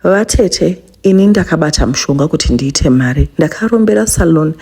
Vatete ini ndakabata mushonga kuti ndiite mari ndakarombera salon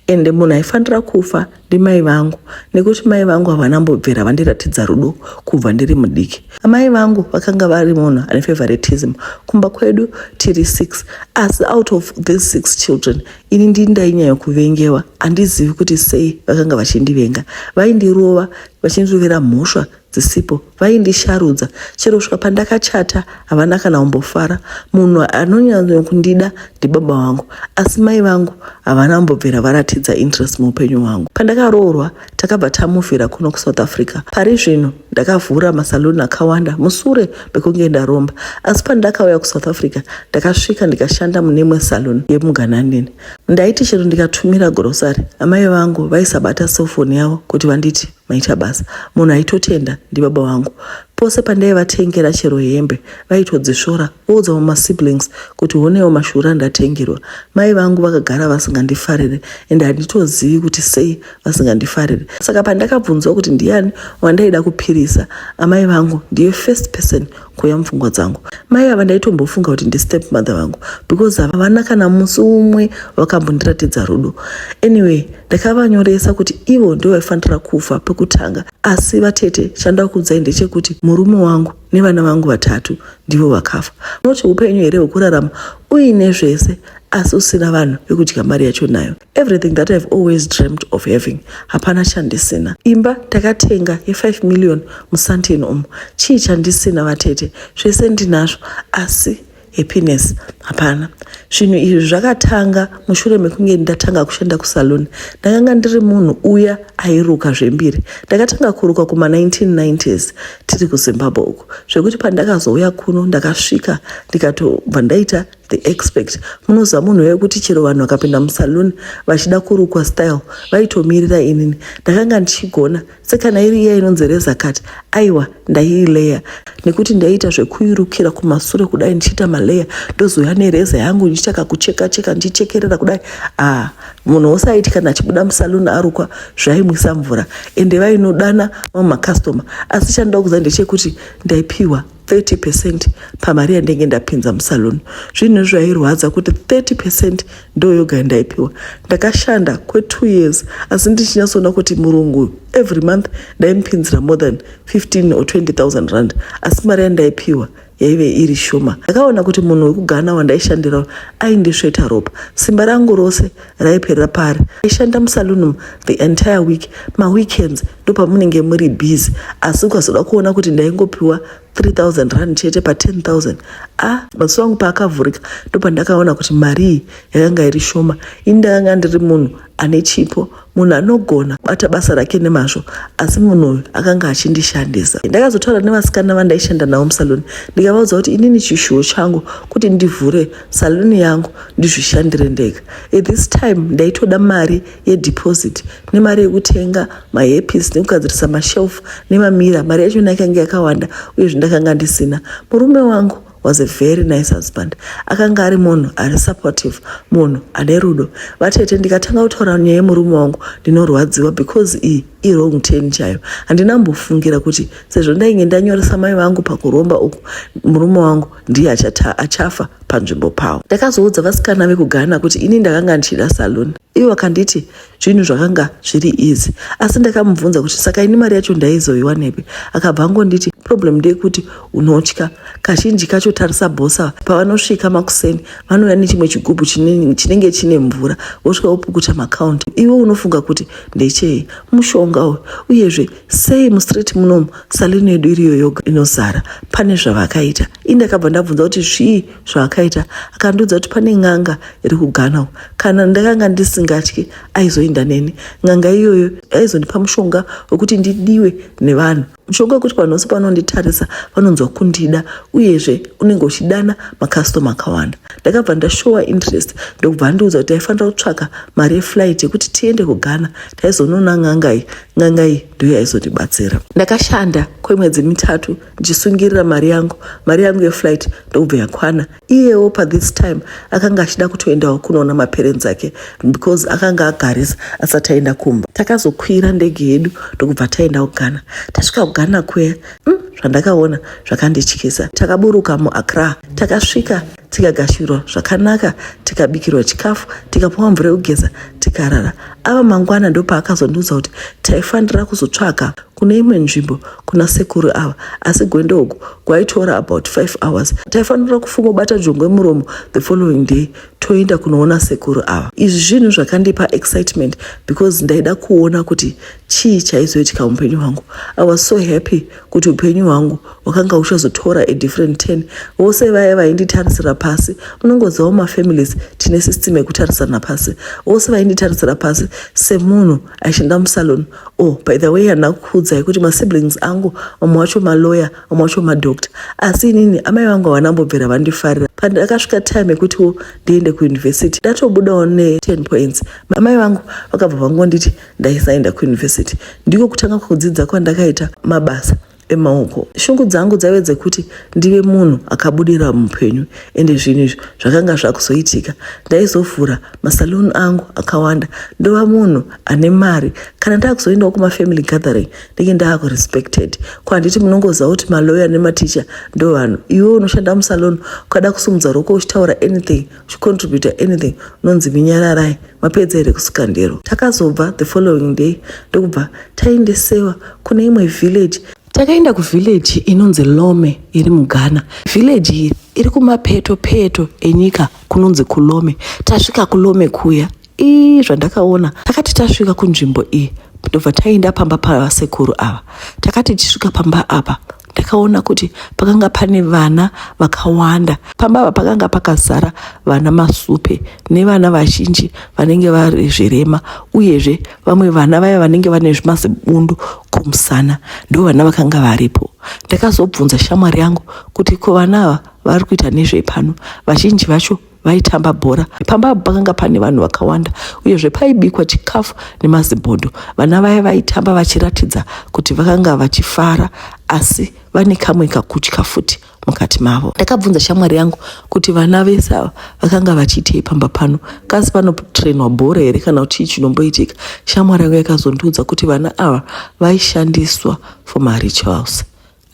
ende munhu aifanira kufa ndimai vangu nekuti mai vangu havana mbobvera vandiratidza rudo kubva ndiri mudiki amai vangu vakanga vari munhu ane favoritism kumba kwedu tiri six asi out of these six children ini ndii ndainyanya kuvengewa handizivi kuti sei vakanga vachindivenga vaindirova vachindirovera mhosva dzisipo vaindisharudza chero kusvika pandakachata havana kana kumbofara munhu anonyanya kundida ndibaba vangu asi mai vangu havana kumbobvira varatidza interest muupenyu hwangu pandakaroorwa takabva tamuvhira kuno kusouth africa pari zvino ndakavhura masaluni akawanda musure mekunge ndaromba asi pandakauya kusouth africa ndakasvika ndikashanda mune imwe saluni yemugananini ndaiti chero ndikatumira grosary amai vangu vaisabata sofoni yavo kuti vanditi maita basa munhu aitotenda ndibaba vangu pose pandaivatengera chero hembe vaitodzisvora voudzawo masiblings kuti honewo mashura ndatengerwa mai vangu vakagara vasingandifarire ende handitozivi kuti sei vasingandifarire saka pandakabvunzwa kuti ndiyani wandaida kupirisa amai vangu ndiye first person kuuya mupfungwa dzangu mai ava ndaitombofunga kuti ndistep mother vangu because havana kana musi umwe vakambondiratidza rudo anyway ndakavanyoresa kuti ivo ndo vaifanira kufa pekutanga asi vatete chandakuudzai ndechekuti murume wangu nevana vangu vatatu ndivo vakafa unoti upenyu here hwekurarama uine zvese asi usina vanhu vekudya mari yacho nayo everything that ihave always dreamt of having hapana chandisina imba takatenga ye5 million musantin umu chii chandisina vatete zvese ndinazvo asi happiness hapana zvinhu izvi zvakatanga mushure mekunge ndatanga kushanda kusalon ndakanga ndiri munhu uya airuka zvembiri ndakatanga kuruka kuma1990s tiri kuzimbabwe uku zvekuti pandakazouya kuno ndakasvika ndikatobva ndaita the expect munoziva munhu weye kuti chero vanhu vakapinda musaloon vachida kurukwa style vaitomirira inini ndakanga ndichigona sekana iri iya inonzi rezakati aiwa ndaiileya nekuti ndaiita zvekuirukira kumasure kudai ndichiita maleya ndozouya nereza yangu ndichiita kakucheka cheka ndichichekerera kudai ah munhu wose aiti kana achibuda musaloon arukwa zvaimwisa mvura ende vainodana mamwe makastoma asi chandoda kuziva ndechekuti ndaipiwa 30 percent pamari yandenge ndapinza musalon zvinhu zvairwadza kuti 30 percent ndo yoga yandaipiwa ndakashanda kwe2 years asi ndichinyasoona kuti murungu every month ndaimupinzira more than 15 or 20000 rand asi mari yandaipiwa yaive iri shoma ndakaona kuti munhu wekugana wandaishandira aindisveta ropa simba rangu rose raiperera pari aishanda musalunum the entire week maweekends ndopamunenge muri busy asi ukazoda kuona kuti ndaingopiwa 3000 rand chete pa 10000 ah maziso angu paakavhurika ndopandakaona kuti marii yakanga iri shoma ini ndakanga ndiri munhu ane chipo munhu anogona kubata basa rake nemazvo asi munhu uyu akanga achindishandisa ndakazotaura nevasikana vandaishanda navo musaluni ndikavaudza kuti inini chishuwo changu kuti ndivhure saluni yangu ndizvishandire ndega at this time ndaitoda mari yedeposit nemari yekutenga mahepisi nekugadzirisa mashelf nemamira mari yacho na yakange yakawanda uye zvindakanga ndisina murume wangu was a very nice husband akanga ari munhu ari supportive munhu ane rudo vatete ndikatanga kutaura nyaya yemurume wangu ndinorwadziwa because iyi irong ten chayo handina mbofungira kuti sezvo ndainge ndanyoresa mai vangu pakuromba uku murume wangu ndiye achata achafa panzvimbo pawo ndakazoudza vasikana vekugana kuti ini ndakanga ndichida salon ivo vakanditi zvinhu zvakanga zviri easy asi ndakamubvunza kuti saka ini mari yacho ndaizoiwanepi akabva angonditi problem ndeyekuti unotya kazhinji kacho tarisa bhosa pavanosvika makuseni vanouya nechimwe chigubhu chinenge chine mvura vosvika vopukuta makaunti iwe unofunga kuti ndechei mushonga uyu uyezve sei mustreet munomu saluni yedu iriyo yoga inozara pane zvavakaita i ndakabva ndabvunza kuti zvii zvavakaita akandiudza kuti pane n'anga iri kuganawo kana ndakanga ndisingatyi aizoinda neni n'anga iyoyo aizondipa mushonga wekuti ndidiwe nevanhu mushonga wekuti vanhu vose pavanonditarisa vanonzwa kundida uyezve unenge uchidana makastoma akawanda ndakabva ndashowa interest ndokubva andiudza kuti aifanira kutsvaka mari yeflight yekuti tiende kugana taizonoona n'angai n'anga iyi ndiyo yaizondibatsira ndakashanda kwemwedzi mitatu ndichisungirira mari yangu mari yangu yeflight ndokubva yakwana iyewo pathis time akanga achida kutoendawo kunoona maperenzi ake because akanga agarisa asati aenda kumba takazokwira ndege yedu ndokubva taenda kugana tasvika kugana kuya mm, zvandakaona zvakandityisa takaburuka muacra takasvika tikagashirwa zvakanaka tikabikirwa chikafu tikapuwa mvura yekugeza tikarara ava mangwana ndopaakazondiudza kuti taifanira kuzotsvaga kune imwe nzvimbo kuna sekuru ava asi gwendo uku kwaitora about 5 hours taifanira kufumobata jongwe muromo the following day toenda kunoona sekuru ava izvi zvinhu zvakandipa excitement because ndaida kuona kuti chii chaizoitika muupenyu hwangu i was so happy kuti upenyu hwangu hwakanga huchazotora a different ten vose vaya vainditarisira pasi munongozivawo mafamilies tine system yekutarisana pasi vose vainditarisira pasi semunhu aishanda musalon o oh, by the way handina kukuudzai kuti masiblings angu vamwe wacho maloya vamwe wacho madoctor asi inini amai vangu havana mbobvira vandifarira pandakasvika time yekutiwo ndiende kuuniversity ndatobudawo ne ten points amai vangu vakabva vangonditi ndaisaenda kuyunivhesiti ndiko kutanga kudzidza kwandakaita mabasa emaoko shungu dzangu dzaive dzekuti ndive munhu akabudira muupenyu ende zvinhu izvi zvakanga zvakuzoitika ndaizovhura masaluni angu akawanda ndova munhu ane mari kana ndakuzoendawo kumafamily gathering ndenge ndaakurespected ko handiti munongoziva kuti maloya nematicha ndo vanhu iwe unoshanda musaluni ukada kusumudza roko uchitaura anything chicontributa anything unonzi minyararai mapedza here kusika ndero takazobva the following day ndokubva taendesewa kune imwe village takaenda kuvhileji inonzi lome iri mughana vhileji iyi iri kumapeto peto enyika kunonzi kulome tasvika kulome kuya ii zvandakaona takati tasvika kunzvimbo iyi ndobva taenda pamba pavasekuru ava takati tichisvika pamba apa ndakaona kuti pakanga pane vana vakawanda pamba apa pakanga pakazara vana masupe nevana vazhinji vanenge vari zvirema uyezve vamwe vana vaya vanenge vane zvimazibundu kumusana ndo vana vakanga varipo ndakazobvunza shamwari yangu kuti ko vana ava vari kuita nezvei pano vazhinji vacho vaitamba bhora. Pamba apa pakanga pane vanhu vakawanda uyezve paibikwa chikafu nemazibhodho. Vana vaya vaitamba vachiratidza kuti vakanga vachifara asi vane kamwe kakutya futi mukati mavo. Ndakabvunza shamwari yangu kuti vana vese ava vakanga vachiitei pamba pano, kasi panotrenwa bhora here kana kuti chii chinomboitika? Shamwari yangu yakazondiudza kuti vana ava vaishandiswa for marituals.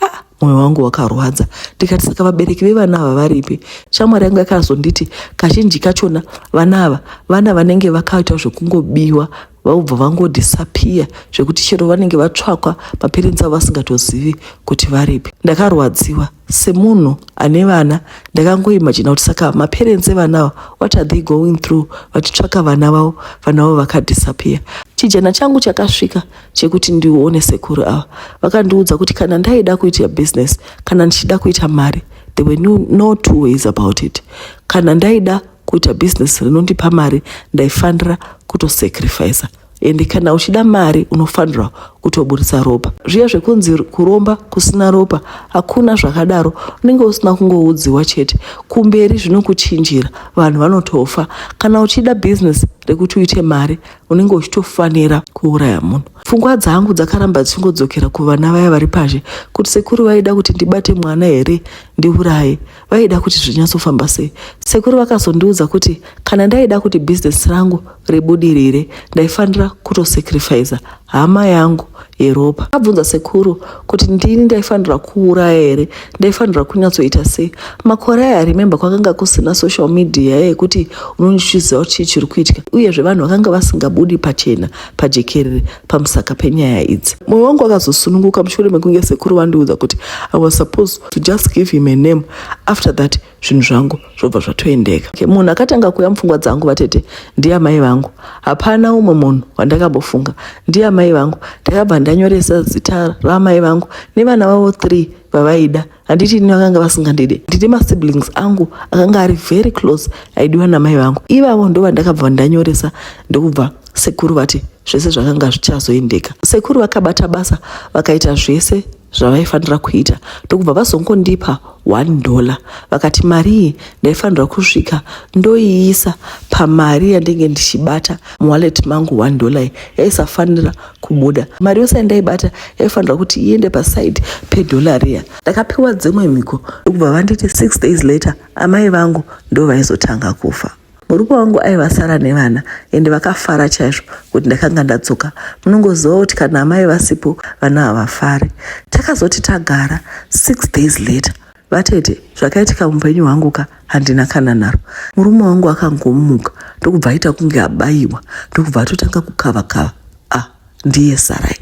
ah moyo wangu wakarwadza ndikati saka vabereki vevana ava varipi shamwari yangu yakazonditi kazhinji kachona vana ava vana vanenge vakaita zvekungobiwa vaubva vangodhisapiya zvekuti chero vanenge vatsvakwa mapirinzi avo vasingatozivi kuti varipi ndakarwadziwa semunhu ane vana ndakangoimajina kuti saka maperensi evana ava what are they going through vachitsvaka vana vavo vana vavo vakadhisapiya chijana changu chakasvika chekuti ndione sekuru ava vakandiudza kuti kana ndaida kuita business kana ndichida kuita mari there were no, no two ways about it kana ndaida kuita business rinondipa mari ndaifanira kutosacrifica ende kana uchida mari unofanirwa kutoburitsa ropa zviya zvekunzi kuromba kusina ropa hakuna zvakadaro unenge usina kungoudziwa chete kumberi zvinokuchinjira vanhu vanotofa kana uchida bhizinesi rekuti uite mari unenge uchitofanira kuuraya munhu pfungwa dzangu dzakaramba dzichingodzokera kuvana vaya vari pazhe kuti sekuru vaida kuti ndibate mwana here ndiuraye vaida kuti zvinyatsofamba sei sekuru vakazondiudza kuti kana ndaida kuti bhizinesi rangu ribudirire ndaifanira kutosacrifiza hama yangu yeropa abvunza sekuru kuti ndini ndaifanira kuuraya here ndaifanira kunyatsoita sei makore aya remembe kwakanga kusina social media yekuti unondichiziva kuti chii chiri kuitika uyezve vanhu vakanga vasingabudi pachena pajekerere pamusaka penyaya idzi mwoyo wangu wakazosununguka mushure mekunge sekuru vandiudza kuti i was supposed to just give him a name after that zvinhu zvangu zvobva zvatoendeka okay, munhu akatanga kuuya mupfungwa dzangu vatete ndiye amai vangu hapana umwe munhu wandakambofunga ndiye amai vangu ndakabva ndanyoresa zita raamai vangu nevana vavo three vavaida handiti ini vakanga vasingandide ndine masiblings angu akanga ari very close aidiwa namai vangu ivavo ndo vandakabva ndanyoresa ndokubva sekuru vati zvese zvakanga zvichazoendeka sekuru vakabata basa vakaita zvese zvavaifanira kuita ndokubva vazongondipa one dollar vakati mari iyi ndaifanirwa kusvika ndoiisa pamari yandenge ndichibata muwallet mangu one dollar iyi yaisafanira kubuda mari yose yandaibata yaifanirwa kuti iende paside pedollar riya ndakapiwa dzimwe mhiko ndokubva vanditi six days later amai vangu ndovaizotanha kufa Murume wangu aivasara nevana ende vakafara chaizvo kuti ndakanga ndadzoka. Munongoziva kuti kana amai vasipo vana havafari. Takazoti tagara six days later vatete zvakaitika mupenyu hwangu ka handina kana naro murume wangu akangomuka ndokubva aita kunge abayiwa ndokubva atotanga kukava kava ah ndiye sarai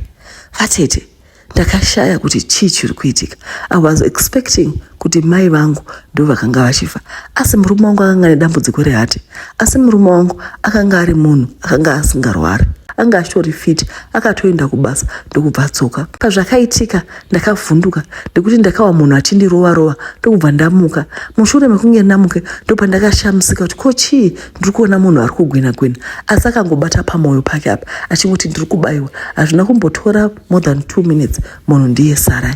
vatete ndakashaya kuti chii chiri kuitika i was expecting kuti mai vangu ndo vakanga vachifa asi murume wangu akanga ane dambudziko rehate asi murume wangu akanga ari munhu akanga asingarwari anga achitori fiti akatoenda kubasa ndokubva adzoka pazvakaitika ndakavhunduka nekuti ndakawa munhu achindirova rova ndokubva ndamuka mushure mekunge ndamuke ndopandakashamisika kuti ko chii ndiri kuona munhu ari kugwina gwina asi akangobata pamwoyo pake apa achingoti ndiri kubayiwa hazvina kumbotora more than two minutes munhu ndiye sarai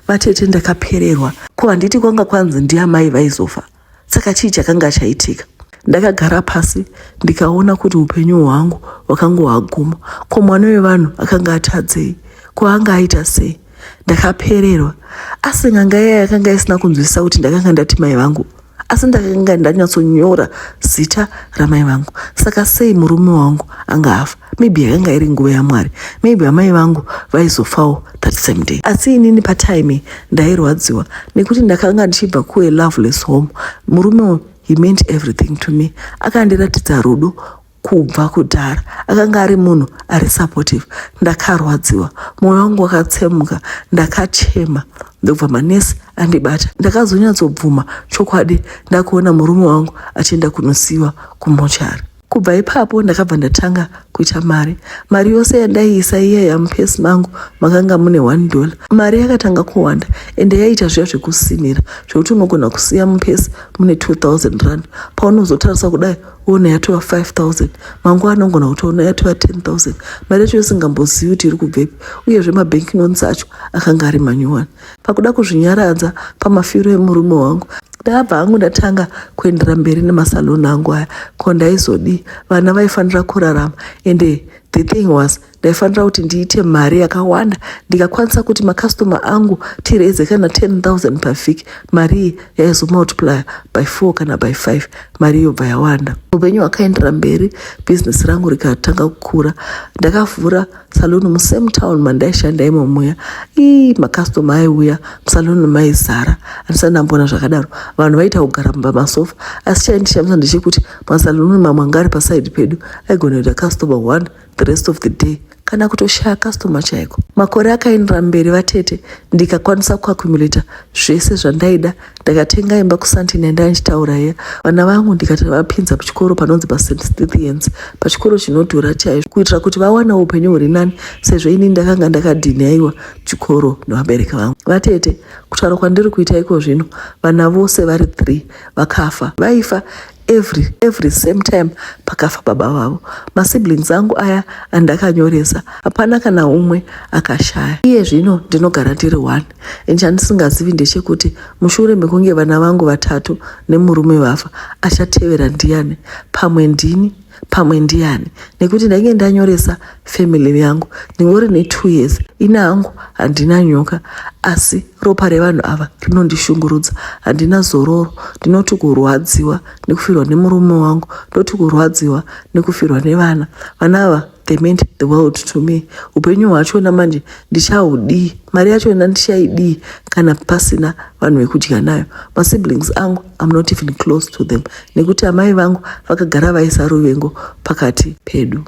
vatete ndakapererwa ko handiti kwanga kwanzi ndiamai vaizofa saka chii chakanga chaitika ndakagara pasi ndikaona kuti upenyu hwangu hwakanga hwaguma ko mwana wevanhu akanga atadzei ko anga aita sei ndakapererwa asi nganga iya yakanga isina kunzwisisa kuti ndakanga ndati mai vangu asi ndakanga ndanyatsonyora zita ramai vangu saka sei murume wangu anga afa maybe yakanga iri nguva yamwari maybe amai vangu vaizofawo that same day asi inini patime ndairwadziwa nekuti ndakanga ndichibva kue loveless home murume he meant everything to me akandiratidza rudo kubva kudhara akanga ari munhu ari supportive ndakarwadziwa mwoyo wangu wakatsemuka ndakachema ndobva manesi andibata ndakazonyatsobvuma chokwadi ndakuona murume wangu achienda kunosiyiwa kumochari kubva ipapo ndakabva ndatanga kuita mari mari yose yandaiisa iya yamupesi mangu makanga mune one dollar mari yakatanga kuwanda ende yaiita zviya zvekusimira zvekuti unogona kusiya mupesi mune 2000 rand paunozotarisa kudai ona yatova 5000 manguva anongona kuti ona yatova 10000 mari yacho yosingambozivi kuti iri kubvepi uyezve mabank loans acho akanga ari manyuwani pakuda kuzvinyaradza pamafiro emurume wangu ndakabva hangu ndatanga kuendera mberi nemasaloni angu aya ko ndaizodii vana vaifanira kurarama ende the thing was ndaifanira kuti ndiite mari yakawanda ndikakwanisa kuti makastoma angu tireze kana 10000 pavhiki mari iyi yaizomultiplier by 4 kana by 5 mari yobva yawanda upenyu hwakaendera mberi bhizinesi rangu rikatanga kukura ndakavhura saluni musame town mandaishanda imomuya ii makastoma aiuya musaluni maizara andisati ndambona zvakadaro vanhu vaita kugara mumba masofa asi chaindishamisa ndechekuti masaluni mamwe angari pasaidi pedu aigona kuita kastoma one the rest of the day kana kutoshaya customer chaiko makore akaendera mberi vatete ndikakwanisa kuakumulata zvese zvandaida ndakatenga imba kusantini yandai ndichitaura iya vana vangu ndikati vapinza kuchikoro panonzi pasent stithians pachikoro chinodhura chaizvo kuitira kuti vawana upenyu huri nani sezvo ini ndakanga ndakadhinhaiwa chikoro nevabereki vangu vatete kutaura kwandiri kuita iko zvino vana vose vari three vakafa vaifa every every same time pakafa baba vavo masiblings angu aya andakanyoresa hapana kana umwe akashaya iye zvino ndinogara ndiri one and chandisingazivi ndechekuti mushure mekunge vana vangu vatatu nemurume vafa achatevera ndiyani pamwe ndini pamwe ndiyani nekuti ndainge ndanyoresa family yangu ndingori netwo years ini hangu handina nyoka asi ropa revanhu ava rinondishungurudza handina zororo ndinoti kurwadziwa nekufirwa nemurume wangu ndoti kurwadziwa nekufirwa nevana vana ava they meant the world to me upenyu hwachona manje ndichaudii mari yachona ndichaidii kana pasina vanhu vekudya nayo masiblings angu I'm not even close to them nekuti amai vangu vakagara vaisa ruvengo pakati pedu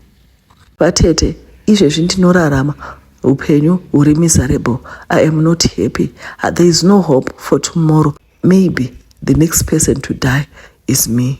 vatete izvezvi ndinorarama upenyu huri miserable i am not happy ah, there is no hope for tomorrow maybe the next person to die is me